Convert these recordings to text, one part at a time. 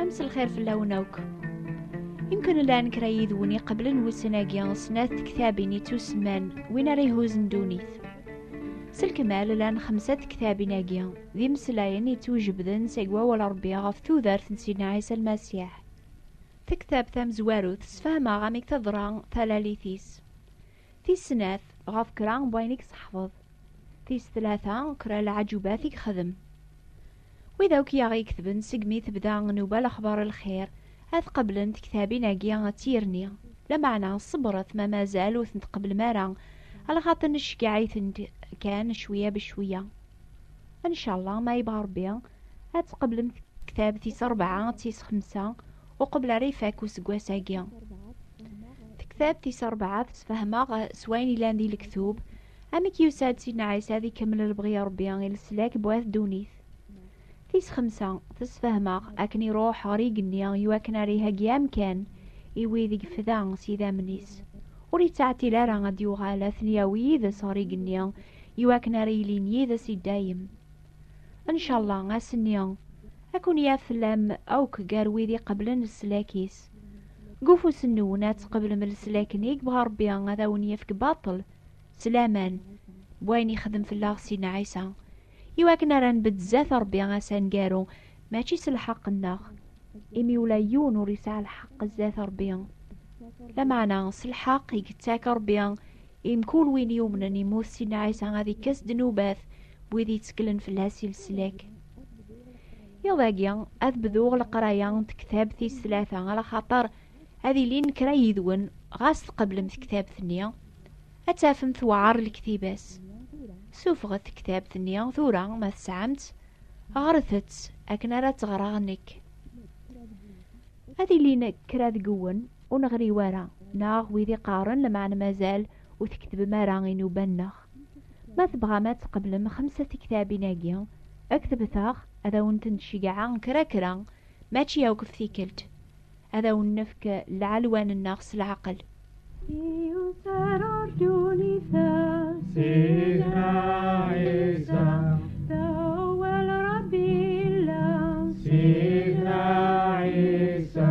Ames lxir fell-awen akk. Yemkin llan kra yid-wen iqeblen wussan-agi snat tektabin i tusman win ara ihuzen ddunit. S lkemal llan xemsa tektabin-agi d imeslayen yettwjebden seg wawal Rebbi ɣef tudert n Sidna Ɛisa Lmasiḥ. Tektabt tamezwarut sfehmeɣ amek teḍra talalit-is. Tis snat, ɣef kra n wayen i yesseḥfeḍ. Tis tlata, kra n lɛaǧubat i yexdem. Wid akk i aɣ-iketben segmi tebda nnuba lexbar lxir, ad qeblen tektabin-agi d tirni. Lameɛna ṣebret ma mazal ur tent-tqeblem ara, lxaṭi nceggeɛ-itent kan cwiya becwiya. Ncallah ma yebɣa Rebbi, ad tqeblem tektabt-is rebɛa, tis xemsa, uqbel ara ifak useggas-agi. Tektabt tis rebɛa tesfehmeɣ s wayen ilan di lektub amek yusa-d Sidna Ɛisa ad ikemmel lebɣi n Rebbi i leslak n wat ddunit. Tis xemsa tesfehmeɣ akken iruḥ ɣer igenni i wakken ara iheggi amkan i wid i yefda s yidammen-is. Ur yettɛetil ara ad d-yuɣal ad ten-yawi yid-s ɣer igenni i wakken ara ilin yid-s i dayem. Ncalla ass-nni ad ken-yaf tellam akk gar wid iqeblen leslak-is. Deg ufus-nwen ad tqeblem leslak-nni i yebɣa Rebbi ad awen-yefk baṭel s laman n wayen yexdem fell-aɣ Sidna Ɛisa, i wakken ara nbedd zdat Rebbi ass aneggaru, mačči s lḥeqq-nneɣ, imi ula yiwen ur yesɛi lḥeqq zdat Rebbi, lameɛna s lḥeqq i yettak Rebbi I mkul win yumnen imut Sidna Ɛisa ad ikkes ddnubat n wid yetteklen fell-as i leslak. Iḍ-agi ad bduɣ leqraya n tektabt tis tlata ala xaṭer ad ilin kra yid-wen ɣas tqeblem tektabt-nni ad tafem tewɛer lektiba-s. Sufɣet tektabt-nni tura ma tesɛam-tt, ɣret-tt akken ara tt-ɣreɣ nekk. Ad ilin kra deg-wen Ur neɣri wara, neɣ wid iqqaren lemɛan mazal ur tketbem ara inuban-nneɣ. Ma tebɣam ad tqeblem xemsa tiktabin-agi, ktebet-aɣ, ad awen-tent-ceggɛeɣ kra kra, mačči akk ɣef tikkelt. Ad awen-nefk lɛelwan-nneɣ s leɛqel. Iwser urdun i ta Sidna Ɛisa Tawal Rabbi illa Sidna Ɛisa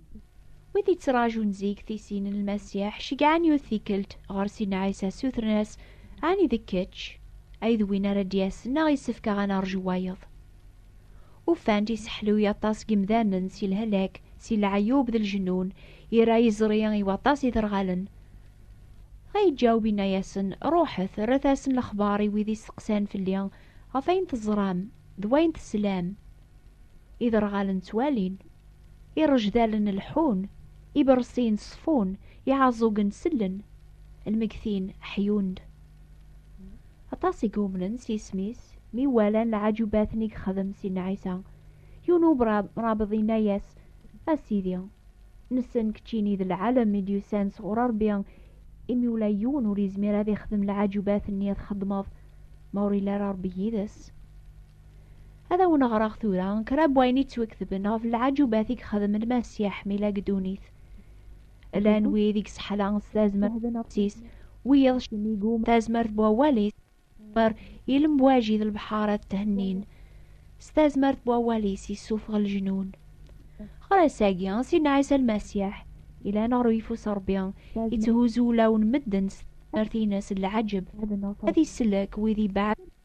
Wid yettraǧun zik tisin n Lmasiḥ ceggɛen yiwet tikkelt ɣer Sinna Ɛisa ssutren-as, Ɛni d kečč ay d win ara d-yasen neɣ yessefk ad nerju wayeḍ? Ufan-d iseḥluy aṭas n yimdanen si lhelak, si leɛyub d lejnun, ira yeẓri i waṭas iderɣalen. Dɣa yeǧǧaweb yenna-yasen, Ruḥet, rret-asen lexbar i wid isteqsan fell-i ɣef wayen teẓram d wayen teslam. Iderɣalen ttwalin, irejdalen lḥun, ibersiyen ṣfun, iɛaẓugen sellen, lmegtin ḥyun-d. Aṭas i yumnen s yisem-is mi walan lɛaǧubat-nni i yexdem Sidna Ɛisa. Yiwen umrabeḍ yenna-yas, A Sidi, nessen keččini d lɛalem i d-yusan sɣur Ṛebbi, imi ula yiwen ur yezmir ad ixdem lɛaǧubat-nni i txeddmeḍ ma ur yelli ara Ṛebbi yid-s. Ad awen-ɣreɣ tura kra n wayen yettwaketben ɣef lɛajubat i yexdem Lmasiḥ mi la gedunit. Llan mhm. wid i yesseḥla s tazmert-is, wiyaḍ cemigu tazmert n wawal-is, mer ilemwaji d lebḥar ad thennin. S tazmert n wawal-is yessufeɣ leǧnun. Ɣer ass-agi, Sidna Ɛisa Lmasiḥ, ilan ɣer uyeffus Rebbi, yetthuzzu ulawen medden s tazmert-ines n lɛaǧeb, ad isellek wid ibeɛden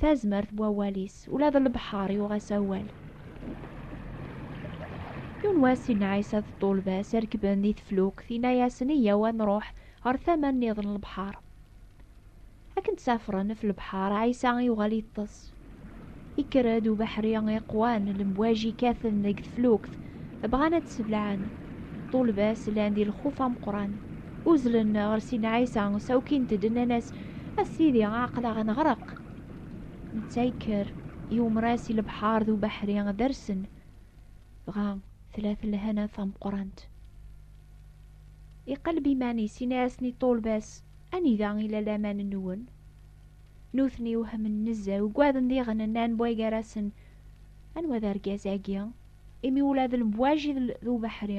tazmert n wawal-is ula d lebḥer yuɣ-as awal yiwen wass inna ɛisa d ṭulba-s rekben di teflukt inna-yasen iyyaw ad nruḥ ɣer tama nniḍen n lebḥer akken ttafren ɣef lebḥer ɛisa yuɣal yeṭṭes yekker-d ubeḥri iqwan lemwaji kkaten deg teflukt bɣan ad d-seblaɛen ṭulba-s llan di lxuf ameqran Uzlen ɣer Sina Ɛisa, sawkint-d nnan-as, A Sidi, aql-aɣ ad neɣreq. Netta yekker, yewmer-as i lebḥer d ubeḥri ad rsen. Dɣa tella-t lhana tameqqrant. Iqelleb iman-is, yenna-asen i ṭṭulba-s, Anida i la laman-nwen? Nutni wehmen nezzeh, ugaden diɣen nnan bway gar-asen, Anwa d argaz-agi? Imi ula d lmwaji d ubeḥri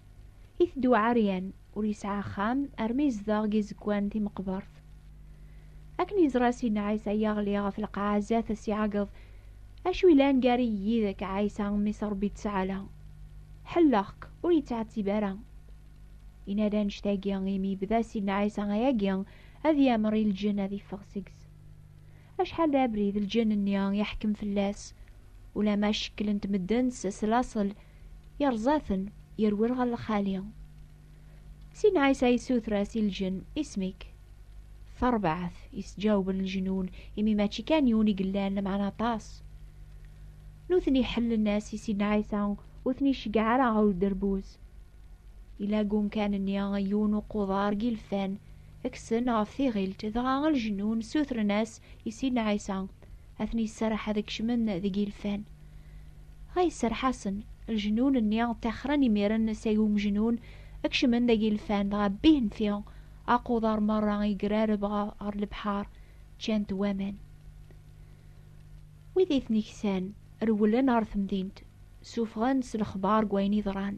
Iteddu ɛeryan, ur yesɛi axxam, armi yezdeɣ deg izegwan timeqbert. Akken yeẓra Sidna Ɛisa yaɣli ɣef lqaɛa zdat as iɛeggeḍ, Acu yellan gar-i yid-k, a Ɛisa, mmi-s n Ṛebbi ttɛala? Ḥelleɣ-k! Ur yettɛettib ara. Yenna-d annect-agi imi yebda Sidna Ɛisa ayagi ad yamer i lǧenn ad yeffeɣ seg-s. Acḥal d abrid lǧenn-nni yeḥkem fell-as, ulamma cekklen-t medden s laṣel, Yerẓa-ten, yerwel ɣer lxali. Sin Ɛisa yessuter-as i lǧen, Isem-ik? Tarbaɛt, yesǧawben lejnun, imi mačči kan yiwen i yellan, lameɛna aṭas. Nutni ḥellen-as i sin Ɛisa, ur ten-iceggeɛ ara ɣer uderbuz. Yella deg umkan-nni yiwen uquḍar n yilfan, kksen ɣef tiɣilt, dɣa lejnun ssutren-as i sin Ɛisa, ad ten-yesserreḥ ad kecmen deg ilfan. Ɣa yesserreḥ-asen, lejnun-nni ttaxren imiren seg umejnun, kecmen deg ilfan, dɣa bbihen fi aquḍar merra yegrareb ɣer lebḥar, ččan-t waman. Wid i ten-iksan, rewlen ɣer temdint, suffɣen s lexbar deg wayen yeḍran.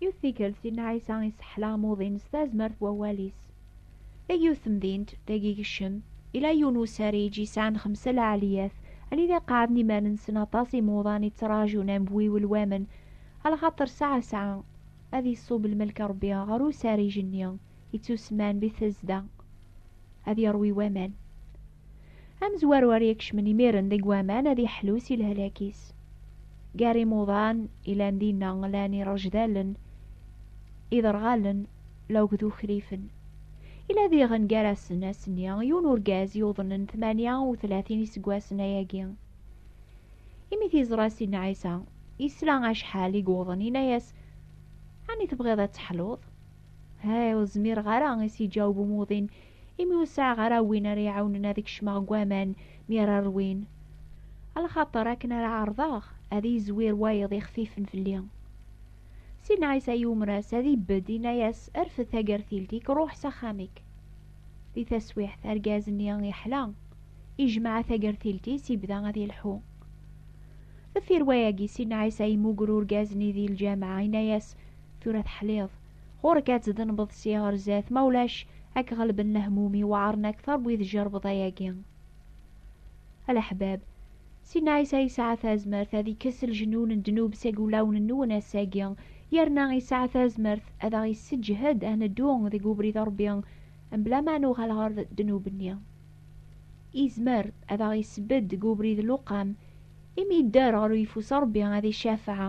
Yiwet tikkelt, Sidna Ɛisa isseḥla amuḍin s tazmert n wawal-is. Deg yiwet temdint, deg igecem, yella yiwen n usariǧ yesɛan xemsa lɛaliyat, anida qeɛɛden iman-nsen aṭas imuḍan i ttraǧun ambiwel wamen, alaxaṭer sɛa sɛa ad iṣub lmelk n Rebbi ɣer usariǧ-nni, ittusemman Bitesda, ad iṛwi waman. Amezwaru ara ikecmen imiren deg waman ad iḥlu si lehlak-is. Gar imuḍan ilan dinna lan irejdalen, iderɣalen, lawg d ukrifen. Ila diɣen gar-asen ass-nni yiwen urgaz yuḍnen tmanya u tlatin iseggasen ayagi. Imi t-iẓra Sidna Ɛisa, yesla acḥal i yuḍen, yenna-yas, Ɛni tebɣiḍ ad teḥluḍ? Hey, ur zmireɣ ara, i s-yeǧaweb umuḍin, imi ur sɛiɣ ara win ara iɛawnen ad kecmeɣ deg waman mi ara rwin. A lxaṭer akken ara ɛerḍeɣ ad yezwir wayeḍ ixfifen fell-i. Sidna Ɛisa yumer-as ad ibedd, yenna-yas, Rfed tagertilt-ik, ruḥ s axxam-ik. Di taswiɛt, argaz-nni yeḥla, ijmeɛ tagertilt-is, ibda ad yelḥu. Deffir wayagi, Sidna Ɛisa yemmuger urgaz-nni di lǧameɛ, yenna-yas, Tura teḥliḍ, ɣur-k ad tdenbeḍ si ɣer zdat ma ulac ad k-ɣelben lehmumi weɛren akteṛ n wid jerbeḍ ayagi alaḥbab Sidna Ɛisa yesɛa tazmert ad ikkes lejnun n ddnub seg wulawen-nwen ass-agi, yerna yesɛa tazmert ad aɣ-yesseǧhed ad neddu deg ubrid n Ṛebbi mebla ma nuɣal ɣer ddnub-nni. Yezmer ad aɣ-yessebded deg ubrid n luqam, imi yedder ɣer uyeffus n Ṛebbi ad icafeɛ,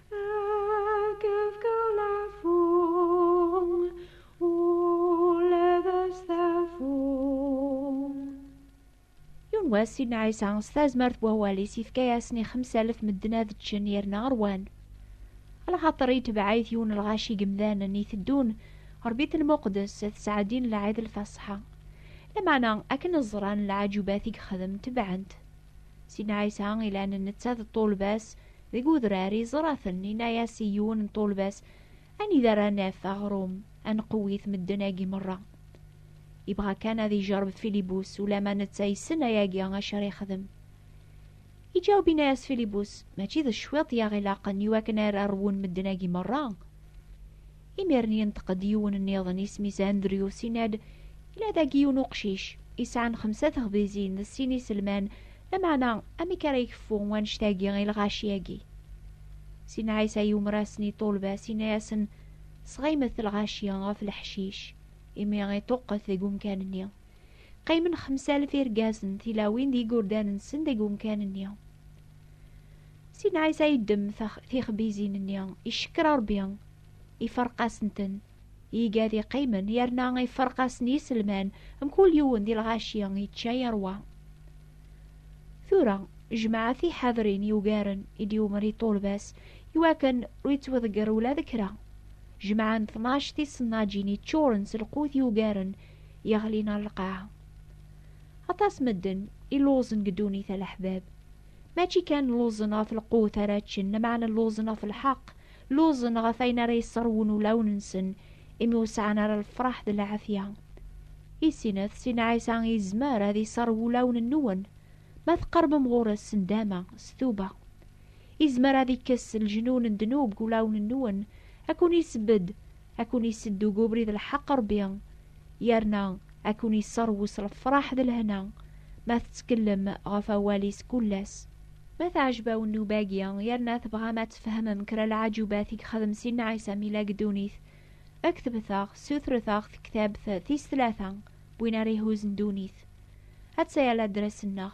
wass Sidna Ɛisa s tazmert n wawal-is yefka-yasen i xemsa alef medden ad ččen yerna rwan lxaṭer yetbeɛ-it yiwen lɣaci gemdanen iteddun ɣer bit lmuqdes tesɛeddin lɛid lfaṣṣa lameɛna akken ẓran lɛajubat i yexdem tebɛen-t Si Ɛisa ilan netta d ṭṭulba-s deg udrar yeẓra-ten, yenna-as i yiwen n ṭṭulba-s, Anida ara naf aɣrum, ad nqewwit medden-agi merra? Yebɣa kan ad ijerreb Filibus, ulamma netta yessen ayagi acu ara yexdem. Iǧaweb yenna-as Filibus, Mačči d cwiṭ i aɣ-ilaqen i wakken ara rwun medden-agi merra. Imiren yenṭeq-d yiwen nniḍen isem-is Andrews, yenna-d, Yella dagi yiwen uqcic, yesɛan xemsa texbizin d sin iselman, lameɛna amek ara ikeffu wanect-agi i lɣaci-agi? Sidna Ɛisa yumer-asen i ṭṭulba-s, yenna-yasen, Sɣeymet lɣaci ɣef leḥcic, imi iṭuqqet deg umkan-nni. Qqimen xemsalef irgazen, tilawin d yigurdan-nsen deg umkan-nni. Sidna Ɛisa yeddem tixbizin-nni, icekker Rebbi, Iferq-asent-ten. Iga di qqimen yerna iferq-asen yiselman mkul yiwen di lɣaci yečča yerwa. Tura, jmaɛ tiḥadrin yugaren i d-yumer i ṭulbas iwakken ur yettweḍger ula d kra. Jmaɛ n tnac tisennaǧin yeččuren s lqut yugaren yeɣlin ar lqaɛa. Aṭas medden i lluẓen deg ddunit a leḥbab. Mačči kan lluẓen ɣef lqut ara ččen, lameɛna lluẓen ɣef lḥeqq, Luẓen ɣef ayen ara yesserwun ulawen-nsen, imi ur sɛan ara lefṛaḥ d lɛafya. I sinat, Sina Ɛisa yezmer ad iṣerrew ulawen-nwen, ma tqeṛbem ɣur-s s ndama, s tuba. Izmer ad ikkes leǧnun n ddnub deg ulawen-nwen, ad ken-isebbed, ad ken-isedd deg ubrid n lḥeqq Ṛebbi, yerna ad ken-isseṛwu s lefṛaḥ d lehna, ma tettkellem ɣef awal-is kul ass. Ma teɛjeb-awen nnuba-agi, yerna tebɣam ad tfehmem kra n lɛaǧubat i yexdem Sidna Ɛisa mi yella deg ddunit, ktbet-aɣ, ssutret-aɣ tektabt tis tlata n win ara ihuzzen ddunit. Atta-ya ladres-nneɣ.